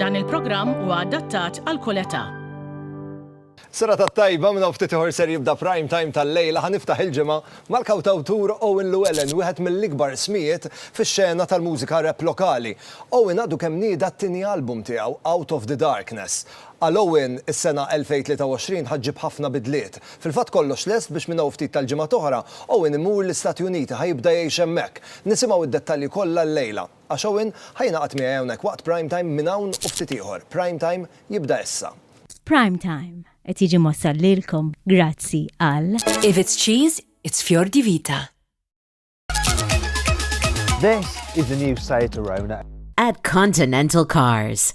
Dan il-programm huwa adattat għal kull età. Serata tajba minn hawn ftit ieħor ser jibda prime time tal-lejla ħa niftaħ il-ġimgħa mal-kawtawtur Owen Llewellyn, wieħed mill-ikbar ismijiet fix-xena tal-mużika rap lokali. Owen għadu kemm nieda t-tieni album tiegħu, Out of the Darkness. Għal Owen, is-sena 2023 ħa ġġib ħafna bidliet. Fil-fatt kollox lest biex minn hawn ftit tal-ġimgħat oħra, Owen imur l-Istati Uniti, ħa jibda jgħix hemmhekk. Nisimgħu d-dettalji kollha llejla. Għax Owen ħa jingħaqad miegħi hawnhekk waqt Prime Time minn hawn u ftit ieħor. Prime Time jibda issa. Prime Time qed jiġi mwassal lilkom grazzi għal. If it's cheese, it's Fior di Vita. This is the new Seat Arona. At Continental Cars.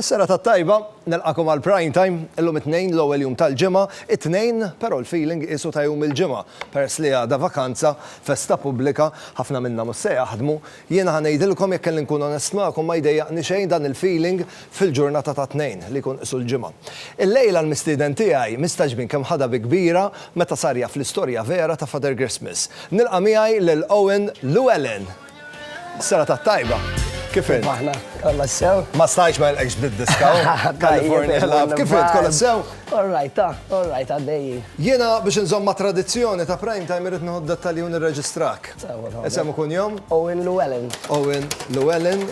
Is-serata t-tajba, nilqagħkom għal Prime Time, illum it-Tnejn l-ewwel jum tal-ġimgħa, it-Tnejn però l-feeling qiesu ta' jum il-Ġimgħa, peress li għada vakanza, festa pubblika, ħafna minna mhux se jaħdmu, jiena ħa ngħidilkom jekk kelli nkun onest magħkom ma jdejjaqni xejn dan il-feeling fil-ġurnata tat-Tnejn li jkun qisu l-Ġimgħa. Illejla l-mistieden tiegħi mistagħġbin kemm ħadha bi kbira meta sar jaf l-istorja vera ta' Father Christmas. Nilqa' miegħi lil Owen Llewellyn! Serata tajba. Kif int? Aħna, kollha sew. Ma stajx ma nilqekx bdiet diskaw. California Love. Kif int? Kollha sew? All right, ta, all right, għaddejji. Jiena biex inżomm ma' tradizzjoni ta' prime time irid nieħu d-dettalji u nirreġistrak. Isem u kunjom? Owen Llewellyn. Owen Llewellyn.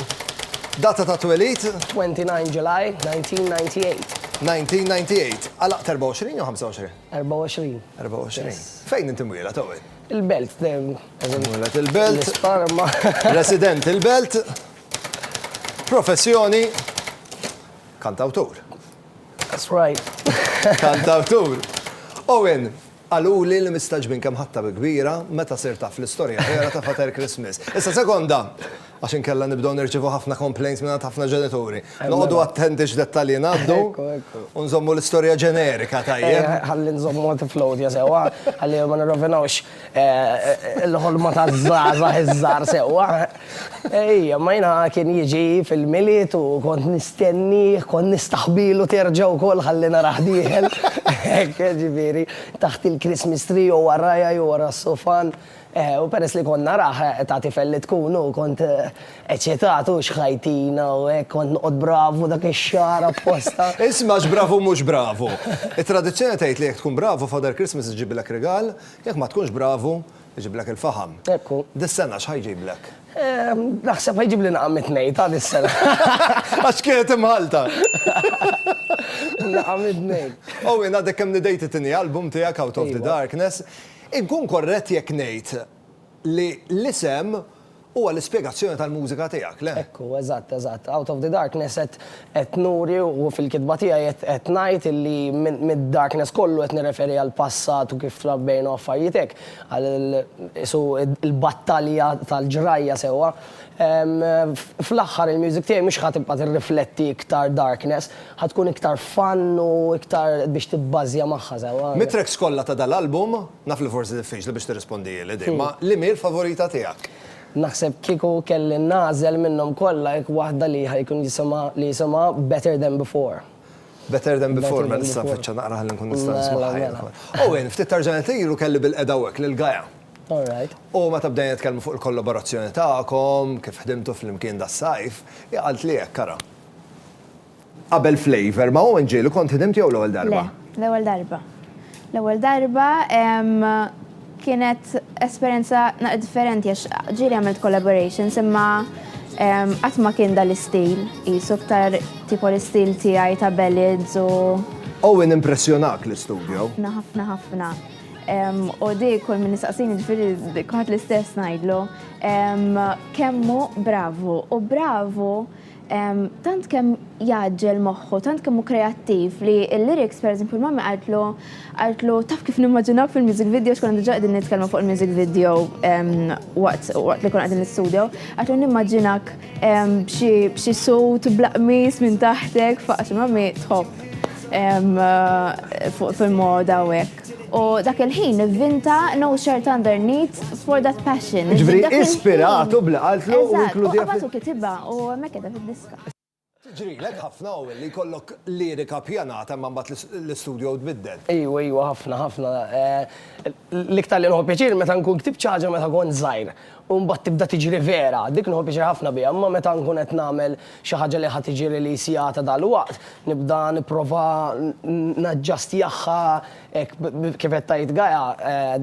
Data ta' twelid? 29 July 1998. 1998. Għalaq 24 jew 25? 24. 24. Fejn inti mwieled, Owen? Il-Belt. Mulet il-Belt. L-Isparma. Resident il-Belt. Professjoni, kantawtur. That's right. Kantawtur. Owen, qaluli li mistagħġbin kemm ħadtha bi kbira meta sirt taf l-istorja vera ta' Father Christmas. Issa sekonda, Għax inkella nibdew nirċievu ħafna complaints mingħand ħafna ġenituri. Noqogħdu attenti x'dettalji ngħaddu u nżommu l-istorja ġenerika tajjeb. Ħalli nżommu għad tiflowdja sewwa, ħalli ma nirrovinawx il-ħolma taż-żgħażagħ iż-żgħar sewwa. Ejja, imma jiena kien jiġi fil-Milied u kont nistennih, kont nistaħbilu terġa' wkoll ħalli narah dieħel. Hekk, jiġifieri, taħt il-Christmas tree jew warajha jew wara s-sofan. U peress li kont narah, ta' tifel li tkun, u kont eċitat, u xħajtina u hekk, kont noqgħod bravu dak ix-xahar apposta. Isma' x'bravu mhux bravu! It-tradizzjoni tgħid li jekk tkun bravu, Father Christmas iġibilek rigal, jekk ma tkunx bravu, iġiblek il-faħam. Hekk hu. Dis-sena x'ħa jġiblek? Naħseb ħa jġibli nagħam it-tnejn, ta' dis-sena. Għax kienet imħallta. Nagħam it-tnejn. Owen, għadek kemm nidejt it-tieni album tiegħek, Out of the Darkness. Inkun korrett jekk ngħid li l-isem huwa l-ispjegazzjoni tal-mużika tiegħek, le? Hekk hu, eżatt, eżatt. Out of the Darkness qed qed nuri u fil-kitba tiegħi qed qed ngħid illi minn mid-darkness kollu qed nirreferi għall-passat u kif trabbejna u affarijiet hekk, għal qisu l-battalja tal-ġrajja sewwa. Fl-aħħar il-music tiegħi mhux ħa tibqa' tirrifletti iktar darkness, ħa tkun iktar fun u iktar biex tibbażja magħha sewwa. Mit-tracks kollha ta' dal-album, naf li forsi diffiċli biex tirrispondieli din, ma liema hi l-favorita tiegħek? Naħseb kieku kelli nagħżel minnhom kollha hekk waħda li ħa jkun jisimha li jisimha Better Than Before. Better Than Before, mela nista' nfittxha naqra ħalli nkun nista' nismagħha jien ukoll. Owen, ftit tarġajna lura kelli bil-qiegħda hawnhekk lil Gaia. U meta bdejna nitkellmu fuq il-kollaborazzjoni tagħkom, kif ħdimtu flimkien das-sajf, hi qaltli hekk, ara. Qabel Flavour ma' Owen Ġieli kont ħdimt jew l-ewwel darba? Le, l-ewwel darba. L-ewwel darba kienet esperjenza naqra differenti għax ġieli għamilt collaborations imma qatt ma kien dal-istil, qisu iktar tipo l-istil tiegħi ta' ballads u. Owen impressjonak l-istudio? Ħafna, ħafna, ħafna. U di kull min nistaqsini ġifiri kħat l-istess najdlu. Kemmu bravu u bravu tant kemm jaġġel moħħu, tant kemm hu kreattiv li l-lyrics per eżempju l-mammi qaltlu qaltlu taf kif nimmaġinaw fil-music video xkun diġà qegħdin nitkellmu fuq il-music video waqt li kun qegħdin l-istudio, qaltlu nimmaġinak b'xi sut blaqmis minn taħtek faqs ma mi tħobb fuq fil-moda u hekk. U dak il-ħin vinta no shirt underneath for that passion. Ġvri, ispiratu blaqaltlu u inkludi. U kitibha u mekeda fil-diska. Tiġrilek ħafna u li jkollok lirika ppjanata imma mbagħad l-istudio tbiddel? Ejwa, ejwa, ħafna, ħafna. L-iktar li nieħu pjaċir meta nkun ktibt xi ħaġa meta kont żgħir u mbagħad tibda tiġri vera, dik nieħu pjaċir ħafna biha, imma meta nkun qed nagħmel xi ħaġa li ħa tiġi release jata dalwaqt, nibda nipprova naġġastjahha hekk kif qed tgħid Gaia,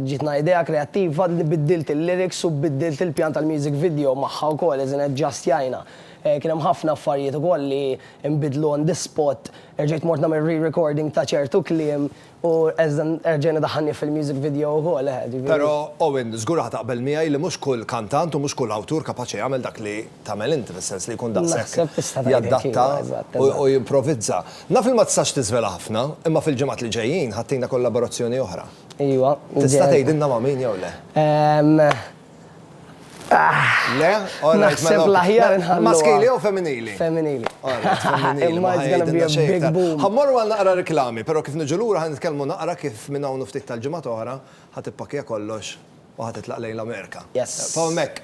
ġietna idea kreattiva li biddilt il-lyrics u biddilt il-pjan tal-music video magħha wkoll, as in aġġastjajna. Kien hemm ħafna affarijiet ukoll li nbidlu on the spot, erġajt mort nagħmel re-recording ta' ċertu kliem u erġajna daħħalnieh fil-music video ukoll, eħe, ġifieri. Però, Owen, żgur ħa taqbel miegħi li mhux kull kantant u mhux kull awtur kapaċi jagħmel dak li tagħmel inti, fis-sens li jkun daqshekk jaddatta u jimprovizza. Naf li ma tistax tiżvela ħafna, imma fil-ġimgħat li ġejjin ħa ttina kollaborazzjoni oħra. Ejwa. Tista' tgħidilna ma' min jew le? Le, Naħseb mela, l-aħjar nħallu. Maskili jew femminili? Femminili. Imma Ħammorru għal naqra reklami, però kif niġu lura ħan nitkellmu naqra kif minn hawn ftit tal-ġimgħat oħra ħadd ippakkja kollox u ħadd titlaq lejn l-Amerika. Yes. F'hawnhekk.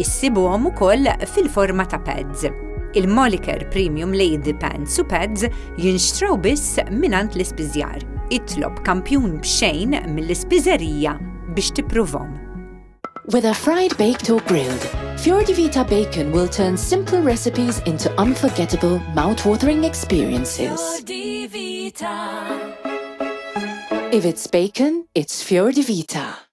Issibuhom ukoll fil-forma ta' pads. Il-Moliker Premium Lady Pants u Pads jinxtraw biss mingħand l-ispiżjar. Itlob kampjun b'xejn mill-ispiżerija biex tippruvhom. Whether fried, baked or grilled, Fiordi Vita Bacon will turn simple recipes into unforgettable, mouth-watering experiences. Fiordi Vita. If it's bacon, it's Fiordi Vita.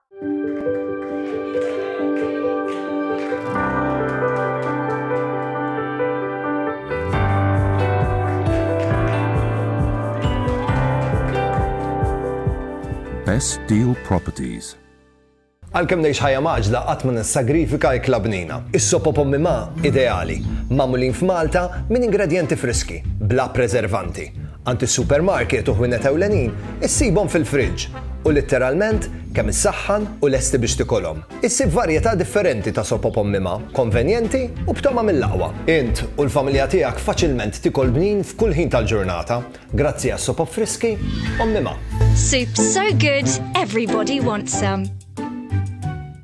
Best Deal Properties Għalkemm ngħix ħajja maġla qatt ma nissagrifika l-klabnina. Is-sopo pommi ma ideali, magħmulin f'Malta minn ingredjenti friski, bla preservanti. Għand is-supermarket u ħwienet ewlenin issibhom fil-friġġ u litteralment kemm issaħħan u lesti biex tikolhom. Issib varjetà differenti ta' sop op ommima, konvenjenti u b'togħma mill-aqwa. Int u l-familja tiegħek faċilment tikol bnin f'kull ħin tal-ġurnata grazzi għas-sop op friski ommima. Soup so good, everybody wants some.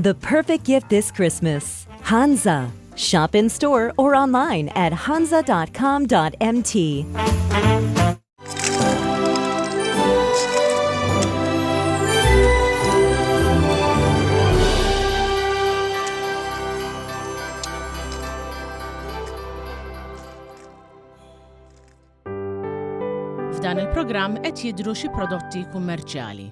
The perfect gift this Christmas. Hansa. Shop in store or online at hansa.com.mt. F'dan il-programm qed jidru xi prodotti kummerċjali.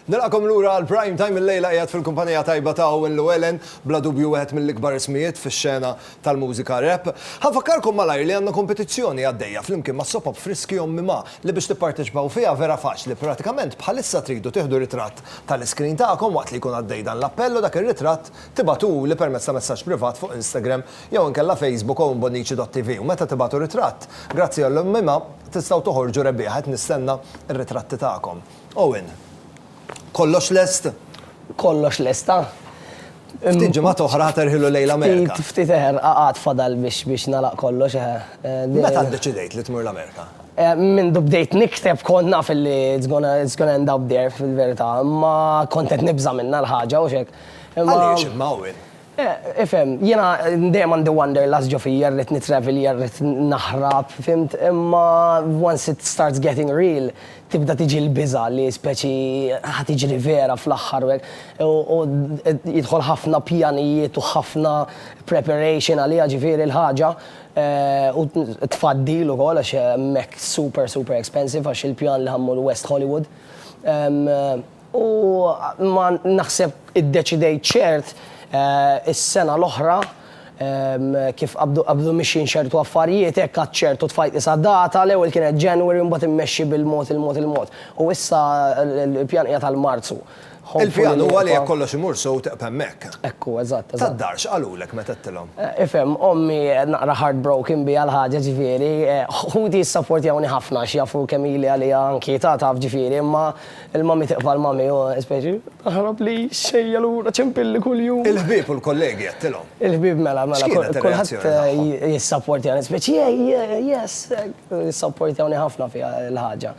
Nilqakom lura għal prime time il-lejla qiegħed fil-kumpanija tajba ta' Owen Llewellyn, bla dubju wieħed mill-ikbar ismijiet fix-xena tal-mużika rap. Ħanfakkarkom malajr li għandna kompetizzjoni għaddejja flimkien ma' Sopop Friski Ommi Ma li biex tipparteċipaw fiha vera faċli pratikament bħalissa tridu tieħdu ritratt tal-iskrin tagħkom waqt li jkun għaddej dan l-appell u dak ir-ritratt Tibagħtuli permezz ta' messaġġ privat fuq Instagram jew inkella Facebook owenbonnici.tv u meta tibagħtu ritratt, grazzi għall-imma tistgħu toħorġu rebbieħa qed nistenna r-ritratti tagħkom. Owen, Kollox lest? Kollox lest, ha? Ftit ġimgħat oħra ħa terħilu lejn l-Amerika. Ftit, ftit eħer, għad fadal biex biex nagħlaq kollox, eħe. Meta ddeċidejt li tmur l-Amerika? Mindu bdejt nikteb kont naf li it's gonna end up there fil-verità, imma kont qed nibża' minnha l-ħaġa, hux hekk? Għaliex imma Owen? Ifhem, jiena dejjem għandi wanderlust ġo fija, rrid nitravelja, rrid naħrab, fhimt, imma once it starts getting real, tibda tiġi l-biża' li speċi ħa tiġri vera fl-aħħar u hekk. U jidħol ħafna pjanijiet u ħafna preparation għaliha ġifieri l-ħaġa, u t-tfaddil ukoll għax hemmhekk super super expensive għax il-pjan li ħa mmur West Hollywood. U ma naħseb iddeċidejt ċert is-sena l-oħra kif qabdu qabdu mixjin ċertu affarijiet hekk għadt ċert u tfajtli sa data, l-ewwel kienet January u mbagħad immexxi bil-mod il-mod il-mod. U issa l-pjan qiegħed għal Marzu. Il-pjan huwa li jekk kollox imur sew teqgħeb hemmhekk. Ekku, eżatt, eżatt. Tad-dar x'qalulek meta għedtilhom? Ifhem, ommi naqra heartbroken biha l-ħaġa ġifieri, ħuti jissapportjawni ħafna għax jafu kemm ili għaliha nkietata taf ġifieri, imma Il-mommy tiqfa' l-mommy u speċi, Taħrab li xejja lura ċempilli kuljum. Il-ħbieb u l-kollegi għedtilhom? Il-ħbieb mela, mela, kulħadd jissapportjani, speċi, yes, jissapportjawni ħafna fiha l-ħaġa.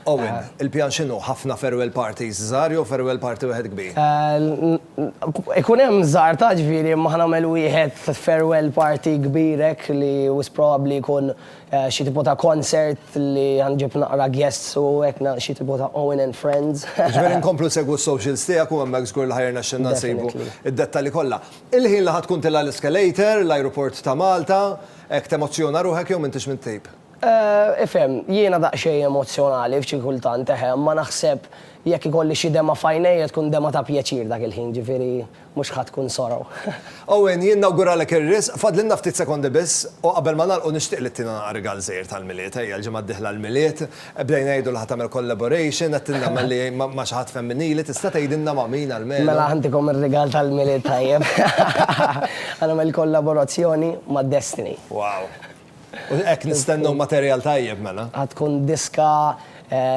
Owen, il-pjan x'inhu? Ħafna farewell parties żgħar jew farewell party wieħed kbir? Ikun hemm żgħar ta' ġifieri imma ħa nagħmel wieħed farewell party kbir hekk li wisq probabbli jkun Xi tipo ta' concert li ħanġib naqra guests u hekk na xi tipo ta' Owen and friends. Jiġifieri nkomplu nsegwu s-socials tiegħek u hemmhekk żgur li ħa jirnexxilna nsibu Definitely. id-dettalji kollha. Il-ħin li ħa tkun tilgħa l-escalator, l-ajruport ta' Malta, hekk temozzjona ruħek jew m'intix mit-tip? Ifhem, jiena daqsxejn emozzjonali f'xi kultant, eħe, imma naħseb jekk ikolli xi dema' f'għajnejja tkun dema' ta' pjaċir dak il-ħin, ġifieri. Mhux ħa tkun sorrow. Owen, jien nawguralek ir-riżq. Fadlilna ftit sekondi biss, u qabel ma nagħlqu nixtieq li ttina rigal żgħir tal-Milied. Ejja, l-ġimgħa d-dieħla l-Milied. Bdejna ngħidu li ħa tagħmel collaboration, qed tindamen li ma' xi ħadd femminili, tista' tgħidilna ma' min almenu? Mela ħantikom ir-rigal tal-Milied tajjeb. Ħa nagħmel kollaborazzjoni ma' Destiny. Wow! U hekk nistennew materjal tajjeb mela. Ħa tkun diska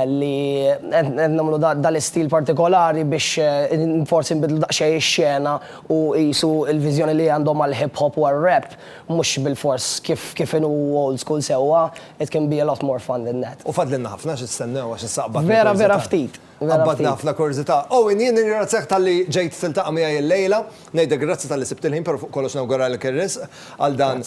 li qed nagħmlu dal-istil partikolari biex forsi nbiddlu daqsxejn ix-xena u qisu l-viżjoni li għandhom għall-hip hop u għar-rap mhux bilfors kif inhu old school sewwa, it can be a lot more fun than that. U fadlilna ħafna x'nistennew għax issa qbadna. Vera vera ftit. Qabadni ħafna kurżità. Owen, jien nirringrazzjak talli ġejt tiltaqa' miegħi illejla. Ngħidlek grazzi talli sibt il-ħin, però fuq kollox nawguralek ir-risq għal dan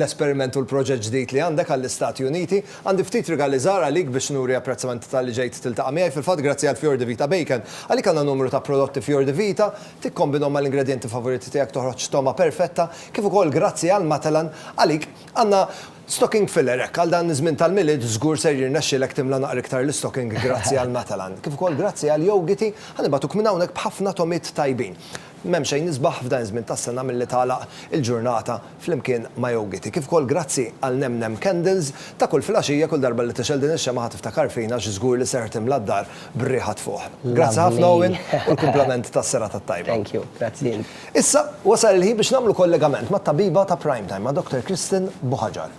l-esperiment u l-proġett ġdid li għandek għall-Istati Uniti. Għandi ftit rigali żgħar għalik biex nuri apprezzament talli ġejt tiltaqa' miegħi. Fil-fatt, grazzi għal Fior di Vita Bacon, għalik għandna numru ta' prodotti Fior di Vita. Tikkombinhom mal-ingredjenti favoriti tiegħek toħroġ togħma perfetta. Kif ukoll grazzi għal Matalan, għalik għandna Stocking filler, hekk, għal dan iż-żmien tal-Milied, żgur ser jirnexxilek timla naqra iktar l-istocking grazzi għal Matalan, kif ukoll grazzi għal Yogiti, ħa nibagħtuk minn hawnhekk b'ħafna togħmiet tajbin. M'hemm xejn isbaħ f'dan iż-żmien tas-sena milli tagħlaq il-ġurnata flimkien ma' Yogiti, kif ukoll grazzi għal Nem Nem Candles ta' kull filgħaxija, kull darba li tixgħel din ix-xemgħa ħa tiftakar fina għax żgur li ser timla d-dar b'riħa tfuħ. Grazzi ħafna Owen u l-kumplament tas-serata t-tajba. Thank you, grazzi int. Issa, wasal il-ħin biex nagħmlu kollegament mat-tabiba ta' Prime Time, ma' Dr. Kristen Buhaġar.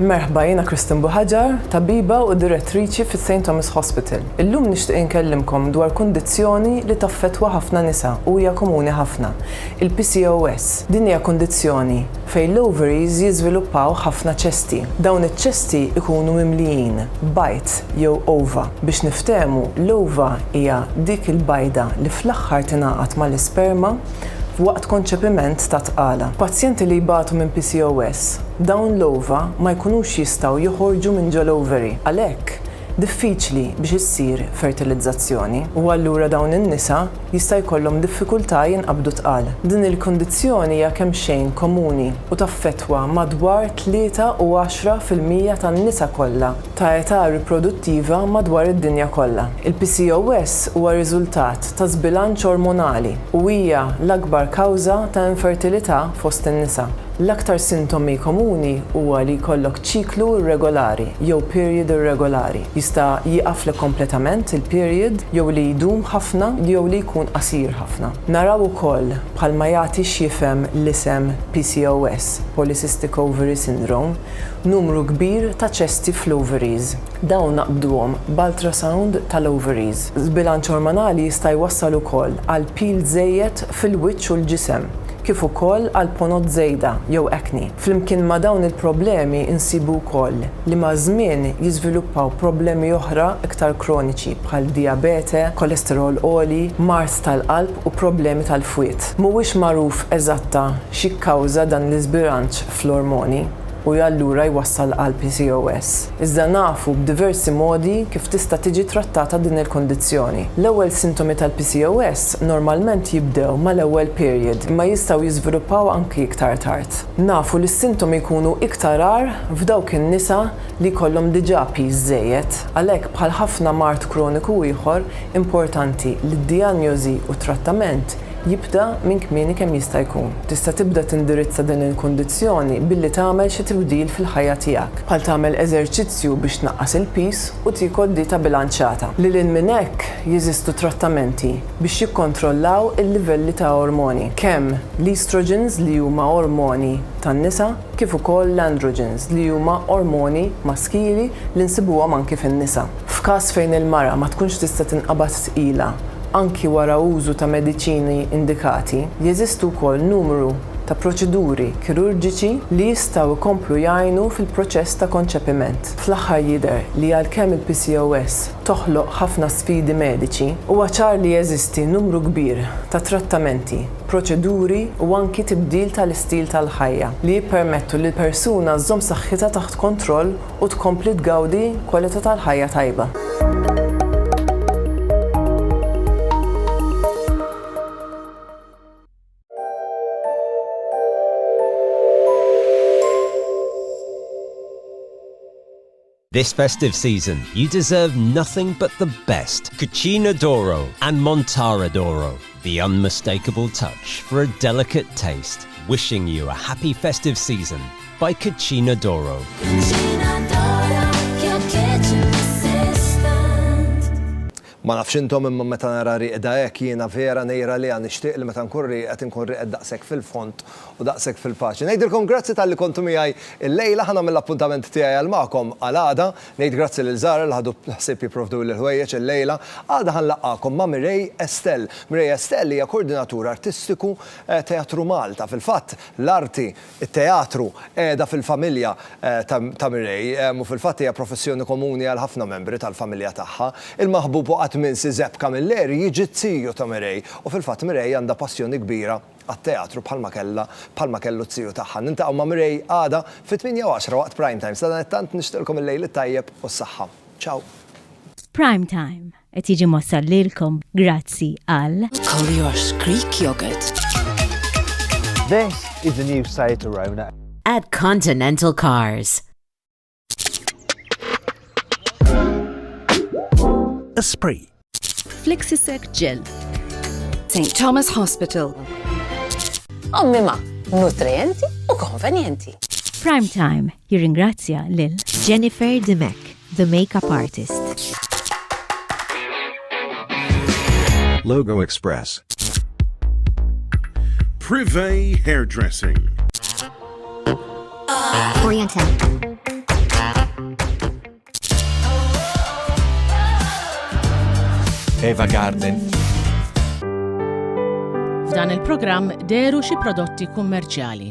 Merħba, jiena Kristen Buhaġar, tabiba u direttriċi fis-St. Thomas Hospital. Illum nixtieq inkellimkom dwar kundizzjoni li taffettwa ħafna nisa u hija komuni ħafna, il-PCOS. Din hija kundizzjoni fejn l-ovaries jiżviluppaw ħafna ċesti. Dawn iċ-ċesti jkunu mimlijin bajd jew ova. Biex niftehmu, l-ova hija dik il-bajda li fl-aħħar tingħaqad mal-isperma waqt konċepiment ta' tqala. F'pazjenti li jbatu minn PCOS, dawn l-ova ma jkunux jistgħu joħorġu minn ġol-ovary. Għalhekk, diffiċli biex issir fertilizzazzjoni u allura dawn in-nisa jista' jkollhom diffikultà jinqabdu tqal. Din il-kundizzjoni hija kemxejn komuni u taffettwa madwar tlieta u għaxra fil-mija tan-nisa kollha ta' età riproduttiva madwar id-dinja kollha. Il-PCOS huwa riżultat ta' żbilanċ ormonali u hija l-akbar kawża ta' infertilità fost in-nisa. L-aktar sintomi komuni huwa li jkollok ċiklu irregolari jew period irregolari, jista' jieqaflek kompletament il-period jew li jdum ħafna jew li jkun qasir ħafna. Naraw ukoll, bħalma jagħti x'jifhem l-isem PCOS, Polycystic Ovary Syndrome, numru kbir ta' ċesti fl-ovaries. Dawn naqbduhom b'ultrasound tal-ovaries. Żbilanċ ormonali jista' jwassal ukoll għal pil żejjed fil-wiċċ u l-ġisem. kif ukoll għal ponot żejda jew acne. Flimkien ma' dawn il-problemi nsibu wkoll li maż-żmien jiżviluppaw problemi oħra iktar kroniċi bħal dijabete, kolesterol għoli, mard tal-qalb u problemi tal-fwied. Mhuwiex magħruf eżatta x'jikkawża dan l-iżbilanċ fl-ormoni u allura jwassal għal PCOS. Iżda nafu b'diversi modi kif tista' tiġi trattata din il-kundizzjoni. L-ewwel sintomi tal-PCOS normalment jibdew mal-ewwel period imma jistgħu jiżviluppaw anki iktar tard. Nafu li s-sintomi jkunu iktar agħar f'dawk in-nisa li jkollhom diġà piż żejjed. Għalhekk bħal ħafna mard kroniku ieħor, importanti li d-dijanjosi u t-trattament jibda minn kmieni kemm jista' jkun. Tista' tibda tindirizza din il-kundizzjoni billi tagħmel xi tibdil fil-ħajja tiegħek, bħal tagħmel eżerċizzju biex tnaqqas il-piż u tiekol dieta bilanċata. Lil hinn minn hekk, jeżistu trattamenti biex jikkontrollaw il-livelli ta' ormoni, kemm l-estrogens li huma ormoni tan-nisa kif ukoll l-androgens li huma ormoni maskili li nsibuhom anki fin-nisa. F'każ fejn il-mara ma tkunx tista' tinqabad tqila anki wara użu ta' mediċini indikati, jeżistu wkoll numru ta' proċeduri kirurġiċi li jistgħu jkomplu jgħinu fil-proċess ta' konċepiment. Fl-aħħar jidher li għalkemm il-PCOS toħloq ħafna sfidi mediċi, huwa ċar li jeżisti numru kbir ta' trattamenti, proċeduri u anki tibdil tal-istil tal-ħajja li jippermettu lill-persuna żżomm saħħitha taħt kontroll u tkompli tgawdi kwalità tal-ħajja tajba. This festive season, you deserve nothing but the best. Cucina d'Oro and Montara d'Oro. The unmistakable touch for a delicate taste, wishing you a happy festive season by Cucina Doro. Cucina Doro, your kitchen assistant. Ma nafx intom imma meta nara rieqda hekk jiena vera ngħir għaliha nixtieq li meta nkun rieqed inkun rieqed daqshekk fil-fond u daqshekk fil-paċi. Ngħidilkom grazzi talli kontu miegħi llejla ħa nagħmel l-appuntament tiegħi għal magħkom għal għada. Ngħid grazzi lil Zahra li ħadu ħsieb jipprovduli l-ħwejjeġ illejla. Għada ħa nlaqqagħkom ma' Mireille Estelle. Mireille Estelle hija Koordinatur Artistiku Teatru Malta. Fil-fatt, l-arti, it-teatru, qiegħda fil-familja ta' Mireille u fil-fatt hija professjoni komuni għal ħafna membri tal-familja tagħha. Il-maħbub u qatt m'insi Zepka Miller jiġi t-tiju ta' Mireille u fil-fatt Mireille għandha passjoni kbira għat-teatru bħalma kellha bħalma kellu t-tziu tagħha. Niltaqgħu ma' Mireille għada fit-tmienja u għaxra waqt Prime Time. Sadanittant nixtieqlkom il-lejl it-tajjeb u s-saħħa. Ciao. Prime Time qed jiġi mwassal lilkom grazzi għal. Collier's Greek Yogurt. This is the new Citroën. At Continental Cars. Esprit. Flexisec Gel. St. Thomas Hospital. Ommima, nutrienti u konvenjenti. Prime Time jirringrazzja lil Jennifer Dimek, the makeup artist. Logo Express. Privé Hairdressing. Eva Garden. F'dan il-programm deru xi prodotti kummerċjali.